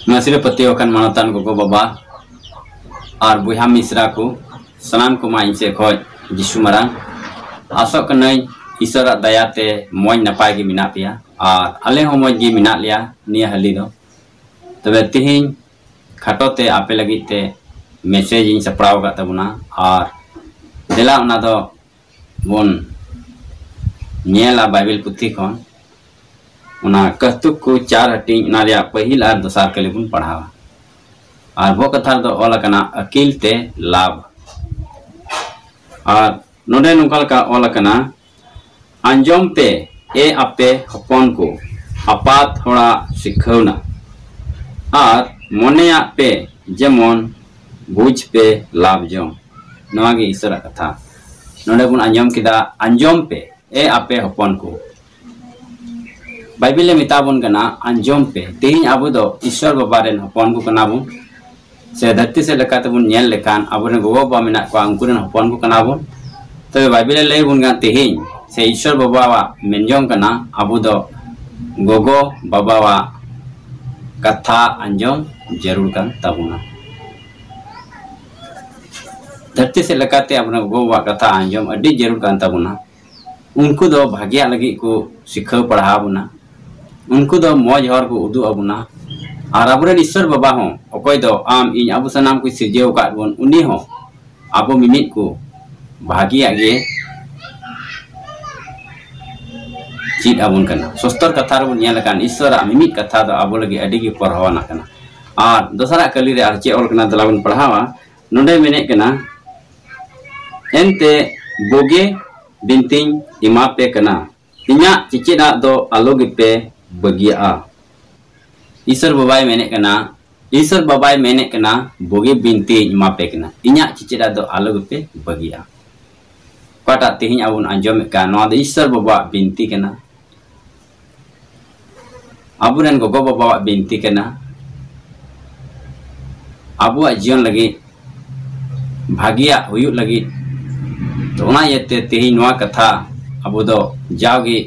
ᱢᱟᱹᱥᱤ ᱨᱮ ᱯᱟᱹᱛᱭᱟᱹᱣ ᱟᱠᱟᱱ ᱢᱟᱱᱚᱛᱟᱱ ᱜᱚᱜᱚ ᱵᱟᱵᱟ ᱟᱨ ᱵᱚᱭᱦᱟ ᱢᱤᱥᱨᱟ ᱠᱚ ᱥᱟᱱᱟᱢ ᱠᱚᱢᱟ ᱤᱧ ᱥᱮᱫ ᱠᱷᱚᱱ ᱡᱤᱥᱩ ᱢᱟᱨᱟᱝ ᱟᱥᱚᱜ ᱠᱟᱹᱱᱟᱹᱧ ᱤᱥᱚᱨᱟᱜ ᱫᱟᱭᱟ ᱛᱮ ᱢᱚᱡᱽ ᱱᱟᱯᱟᱭ ᱜᱮ ᱢᱮᱱᱟᱜ ᱯᱮᱭᱟ ᱟᱨ ᱟᱞᱮ ᱦᱚᱸ ᱢᱚᱡᱽ ᱜᱮ ᱢᱮᱱᱟᱜ ᱞᱮᱭᱟ ᱱᱤᱭᱟᱹ ᱦᱟᱹᱞᱤ ᱫᱚ ᱛᱚᱵᱮ ᱛᱮᱦᱮᱧ ᱠᱷᱟᱴᱚ ᱛᱮ ᱟᱯᱮ ᱞᱟᱹᱜᱤᱫ ᱛᱮ ᱢᱮᱥᱮᱡᱽ ᱤᱧ ᱥᱟᱯᱲᱟᱣ ᱟᱠᱟᱫ ᱛᱟᱵᱚᱱᱟ ᱟᱨ ᱫᱮᱞᱟ ᱚᱱᱟ ᱫᱚ ᱵᱚᱱ ᱧᱮᱞᱟ ᱵᱟᱭᱵᱮᱞ ᱯᱩᱛᱷᱤ ᱠᱷᱚᱱ ᱚᱱᱟ ᱠᱟᱹᱦᱛᱩᱠ ᱠᱚ ᱪᱟᱨ ᱦᱟᱹᱴᱤᱧ ᱚᱱᱟ ᱨᱮᱭᱟᱜ ᱯᱟᱹᱦᱤᱞ ᱟᱨ ᱫᱚᱥᱟᱨ ᱠᱟᱹᱞᱤ ᱵᱚᱱ ᱯᱟᱲᱦᱟᱣᱟ ᱟᱨ ᱵᱚ ᱠᱟᱛᱷᱟ ᱨᱮᱫᱚ ᱚᱞ ᱟᱠᱟᱱᱟ ᱟᱹᱠᱤᱞ ᱛᱮ ᱞᱟᱵᱷ ᱟᱨ ᱱᱚᱰᱮ ᱱᱚᱝᱠᱟ ᱞᱮᱠᱟ ᱚᱞ ᱟᱠᱟᱱᱟ ᱟᱸᱡᱚᱢ ᱯᱮ ᱮ ᱟᱯᱮ ᱦᱚᱯᱚᱱ ᱠᱚ ᱟᱯᱟᱛ ᱦᱚᱲᱟᱜ ᱥᱤᱠᱷᱟᱹᱣᱱᱟ ᱟᱨ ᱢᱚᱱᱮᱭᱟᱜ ᱯᱮ ᱡᱮᱢᱚᱱ ᱵᱩᱡᱽ ᱯᱮ ᱞᱟᱵᱷ ᱡᱚᱝ ᱱᱚᱣᱟ ᱜᱮ ᱤᱥᱚᱨ ᱟᱜ ᱠᱟᱛᱷᱟ ᱱᱚᱰᱮ ᱵᱚᱱ ᱟᱸᱡᱚᱢ ᱠᱮᱫᱟ ᱟᱸᱡᱚᱢ ᱯᱮ ᱮ ᱟᱯᱮ ᱦᱚᱯᱚᱱ ᱠᱚ ᱵᱟᱭᱵᱤᱞ ᱮ ᱢᱮᱛᱟ ᱵᱚᱱ ᱠᱟᱱᱟ ᱟᱸᱡᱚᱢ ᱯᱮ ᱛᱮᱦᱮᱧ ᱟᱵᱚ ᱫᱚ ᱤᱥᱚᱨ ᱵᱟᱵᱟ ᱨᱮᱱ ᱦᱚᱯᱚᱱ ᱠᱚ ᱠᱟᱱᱟ ᱵᱚᱱ ᱥᱮ ᱫᱷᱟᱹᱨᱛᱤ ᱥᱮᱫ ᱞᱮᱠᱟᱛᱮ ᱵᱚᱱ ᱧᱮᱞ ᱞᱮᱠᱷᱟᱱ ᱟᱵᱚ ᱨᱮᱱ ᱜᱚᱜᱚ ᱵᱟᱵᱟ ᱢᱮᱱᱟᱜ ᱠᱚᱣᱟ ᱩᱱᱠᱩ ᱨᱮᱱ ᱦᱚᱯᱚᱱ ᱠᱚ ᱠᱟᱱᱟ ᱵᱚᱱ ᱛᱚᱵᱮ ᱵᱟᱭᱵᱤᱞ ᱮ ᱞᱟᱹᱭ ᱵᱚᱱ ᱠᱟᱱᱟ ᱛᱮᱦᱮᱧ ᱥᱮ ᱤᱥᱚᱨ ᱵᱟᱵᱟᱣᱟᱜ ᱢᱮᱱ ᱡᱚᱝ ᱠᱟᱱᱟ ᱟᱵᱚ ᱫᱚ ᱜᱚᱜᱚ ᱵᱟᱵᱟᱣᱟᱜ ᱠᱟᱛᱷᱟ ᱟᱸᱡᱚᱢ ᱡᱟᱹᱨᱩᱲ ᱠᱟᱱ ᱛᱟᱵᱚᱱᱟ ᱫᱷᱟᱹᱨᱛᱤ ᱥᱮᱫ ᱞᱮᱠᱟᱛᱮ ᱟᱵᱚ ᱜᱚᱜᱚ ᱵᱟᱵᱟᱣᱟᱜ ᱠᱟᱛᱷᱟ ᱟᱸᱡᱚᱢ ᱟᱹᱰᱤ ᱡᱟᱹᱨᱩᱲ ᱠᱟᱱ ᱛᱟᱵᱚᱱᱟ ᱩᱱᱠᱩ ᱫᱚ ᱵᱷᱟᱜᱮᱭᱟᱜ ᱞᱟᱹᱜᱤᱫ ᱠᱚ ᱥᱤᱠᱷᱟᱹᱣ ᱯᱟᱲᱦᱟᱣ ᱵᱚᱱᱟ ᱩᱱᱠᱩ ᱫᱚ ᱢᱚᱡᱽ ᱦᱚᱨ ᱠᱚ ᱩᱫᱩᱜ ᱟᱵᱚᱱᱟ ᱟᱨ ᱟᱵᱚᱨᱮᱱ ᱤᱥᱥᱚᱨ ᱵᱟᱵᱟ ᱦᱚᱸ ᱚᱠᱚᱭ ᱫᱚ ᱟᱢ ᱤᱧ ᱟᱵᱚ ᱥᱟᱱᱟᱢ ᱠᱚᱭ ᱥᱤᱨᱡᱟᱹᱣ ᱟᱠᱟᱫ ᱵᱚᱱ ᱩᱱᱤ ᱦᱚᱸ ᱟᱵᱚ ᱢᱤᱢᱤᱫ ᱠᱚ ᱵᱷᱟᱜᱮᱭᱟᱜ ᱜᱮ ᱪᱮᱫ ᱟᱵᱚᱱ ᱠᱟᱱᱟ ᱥᱚᱥᱛᱚᱨ ᱠᱟᱛᱷᱟ ᱨᱮᱵᱚᱱ ᱧᱮᱞ ᱟᱠᱟᱱ ᱤᱥᱥᱚᱨᱟᱜ ᱢᱤᱢᱤᱫ ᱠᱟᱛᱷᱟ ᱫᱚ ᱟᱵᱚ ᱞᱟᱹᱜᱤᱫ ᱟᱹᱰᱤ ᱜᱮ ᱯᱚᱨᱦᱟᱣᱟᱱᱟᱜ ᱠᱟᱱᱟ ᱟᱨ ᱫᱚᱥᱟᱨᱟᱜ ᱠᱟᱹᱞᱤ ᱨᱮ ᱟᱨ ᱪᱮᱫ ᱚᱞ ᱠᱟᱱᱟ ᱫᱮᱞᱟ ᱵᱚᱱ ᱯᱟᱲᱦᱟᱣᱟ ᱱᱚᱰᱮ ᱢᱮᱱᱮᱫ ᱠᱟᱱᱟ ᱮᱱᱛᱮ ᱵᱳᱜᱮ ᱵᱤᱱᱛᱤᱧ ᱮᱢᱟ ᱯᱮ ᱠᱟᱱᱟ ᱤᱧᱟᱜ ᱪᱮᱪᱮᱫ ᱟᱜ ᱫᱚ ᱟᱞᱚ ᱜᱮᱯᱮ ᱵᱟᱹᱜᱤᱭᱟᱜᱼᱟ᱾ ᱤᱥᱚᱨ ᱵᱟᱵᱟᱭ ᱢᱮᱱᱮᱫ ᱠᱟᱱᱟ᱾ ᱤᱥᱚᱨ ᱵᱟᱵᱟᱭ ᱢᱮᱱᱮᱫ ᱠᱟᱱᱟ ᱵᱩᱜᱤ ᱵᱤᱱᱛᱤᱧ ᱮᱢᱟ ᱯᱮ ᱠᱟᱱᱟ᱾ ᱤᱧᱟᱜ ᱪᱮᱪᱮᱫ ᱟᱜ ᱫᱚ ᱟᱞᱚ ᱜᱮᱯᱮ ᱵᱟᱹᱜᱤᱭᱟᱜᱼᱟ᱾ ᱚᱠᱟᱴᱟᱜ ᱛᱮᱦᱮᱧ ᱟᱵᱚ ᱵᱚᱱ ᱟᱸᱡᱚᱢᱮᱫ ᱠᱟᱱ ᱱᱚᱣᱟ ᱫᱚ ᱤᱥᱚᱨ ᱵᱟᱵᱟᱣᱟᱜ ᱵᱤᱱᱛᱤ ᱠᱟᱱᱟ᱾ ᱟᱵᱚ ᱨᱮᱱ ᱜᱚᱜᱚ ᱵᱟᱵᱟᱣᱟᱜ ᱵᱤᱱᱛᱤ ᱠᱟᱱᱟ ᱟᱵᱚᱣᱟᱜ ᱡᱤᱭᱚᱱ ᱞᱟᱹᱜᱤᱫ ᱵᱷᱟᱹᱜᱤᱭᱟᱜ ᱦᱩᱭᱩᱜ ᱞᱟᱹᱜᱤᱫ ᱛᱚ ᱚᱱᱟ ᱤᱭᱟᱹᱛᱮ ᱛᱮᱦᱮᱧ ᱱᱚᱣᱟ ᱠᱟᱛᱷᱟ ᱟᱵᱚ ᱫᱚ ᱡᱟᱣᱜᱮ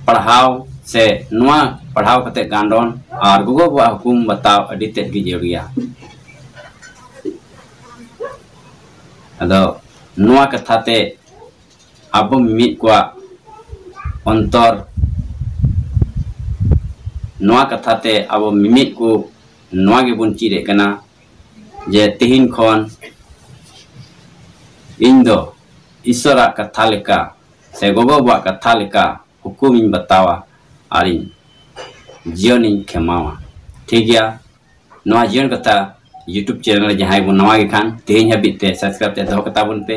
ᱯᱟᱲᱦᱟᱣ ᱥᱮ ᱱᱚᱣᱟ ᱯᱟᱲᱦᱟᱣ ᱠᱟᱛᱮ ᱜᱟᱱᱰᱚᱱ ᱟᱨ ᱜᱚᱜᱚ ᱵᱟᱵᱟᱣᱟᱜ ᱦᱩᱠᱩᱢ ᱵᱟᱛᱟᱣ ᱟᱹᱰᱤ ᱛᱮᱫ ᱜᱮ ᱡᱟᱹᱨᱩᱲ ᱜᱮᱭᱟ ᱟᱫᱚ ᱱᱚᱣᱟ ᱠᱟᱛᱷᱟ ᱛᱮ ᱟᱵᱚ ᱢᱤᱢᱤᱫ ᱠᱚᱣᱟᱜ ᱚᱱᱛᱚᱨ ᱱᱚᱣᱟ ᱠᱟᱛᱷᱟ ᱛᱮ ᱟᱵᱚ ᱢᱤᱢᱤᱫ ᱠᱚ ᱱᱚᱣᱟ ᱜᱮᱵᱚᱱ ᱪᱮᱫ ᱮᱫ ᱠᱟᱱᱟ ᱡᱮ ᱛᱮᱦᱮᱧ ᱠᱷᱚᱱ ᱤᱧ ᱫᱚ ᱤᱥᱚᱨᱟᱜ ᱠᱟᱛᱷᱟ ᱞᱮᱠᱟ ᱥᱮ ᱜᱚᱜᱚ ᱵᱟᱵᱟᱣᱟᱜ ᱠᱟᱛᱷᱟ ᱞᱮᱠᱟ ᱦᱩᱠᱩᱢᱤᱧ ᱵᱟᱛᱟᱣᱟ ᱟᱨᱤᱧ ᱡᱤᱭᱚᱱᱤᱧ ᱠᱷᱮᱢᱟᱣᱟ ᱴᱷᱤᱠ ᱜᱮᱭᱟ ᱱᱚᱣᱟ ᱡᱤᱭᱚᱱ ᱠᱟᱛᱷᱟ ᱭᱩᱴᱩᱵᱽ ᱪᱮᱱᱮᱞ ᱨᱮ ᱡᱟᱦᱟᱸᱭ ᱵᱚᱱ ᱱᱟᱣᱟ ᱜᱮ ᱠᱷᱟᱱ ᱛᱮᱦᱮᱧ ᱦᱟᱹᱵᱤᱡ ᱛᱮ ᱥᱟᱵᱥᱠᱨᱟᱭᱤᱵᱽ ᱛᱮ ᱫᱚᱦᱚ ᱠᱟᱛᱟ ᱵᱚᱱ ᱯᱮ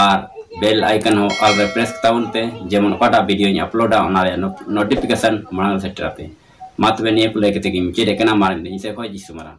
ᱟᱨ ᱵᱮᱞ ᱟᱭᱠᱚᱱ ᱦᱚᱸ ᱚᱞ ᱨᱮ ᱯᱨᱮᱥ ᱠᱟᱛᱟ ᱵᱚᱱ ᱯᱮ ᱡᱮᱢᱚᱱ ᱚᱠᱟᱴᱟᱜ ᱵᱷᱤᱰᱤᱭᱳᱧ ᱟᱯᱞᱳᱰᱟ ᱚᱱᱟ ᱨᱮᱭᱟᱜ ᱱᱳᱴᱤᱯᱷᱤᱠᱮᱥᱚᱱ ᱢᱟᱲᱟᱝ ᱨᱮ ᱥᱮᱴᱮᱨ ᱟᱯᱮ ᱢᱟ ᱛᱚᱵᱮ ᱱᱤᱭᱟᱹ ᱠᱚ ᱞᱟᱹᱭ ᱠᱟᱛᱮ ᱜᱤᱧ ᱢᱩᱪᱟᱹᱫᱮᱫ ᱠᱟᱱᱟ ᱢᱟᱨᱟᱝ ᱤᱧ ᱥᱮᱫ ᱠᱷᱚᱱ ᱡᱤᱥᱩ ᱢᱟᱨᱟᱝ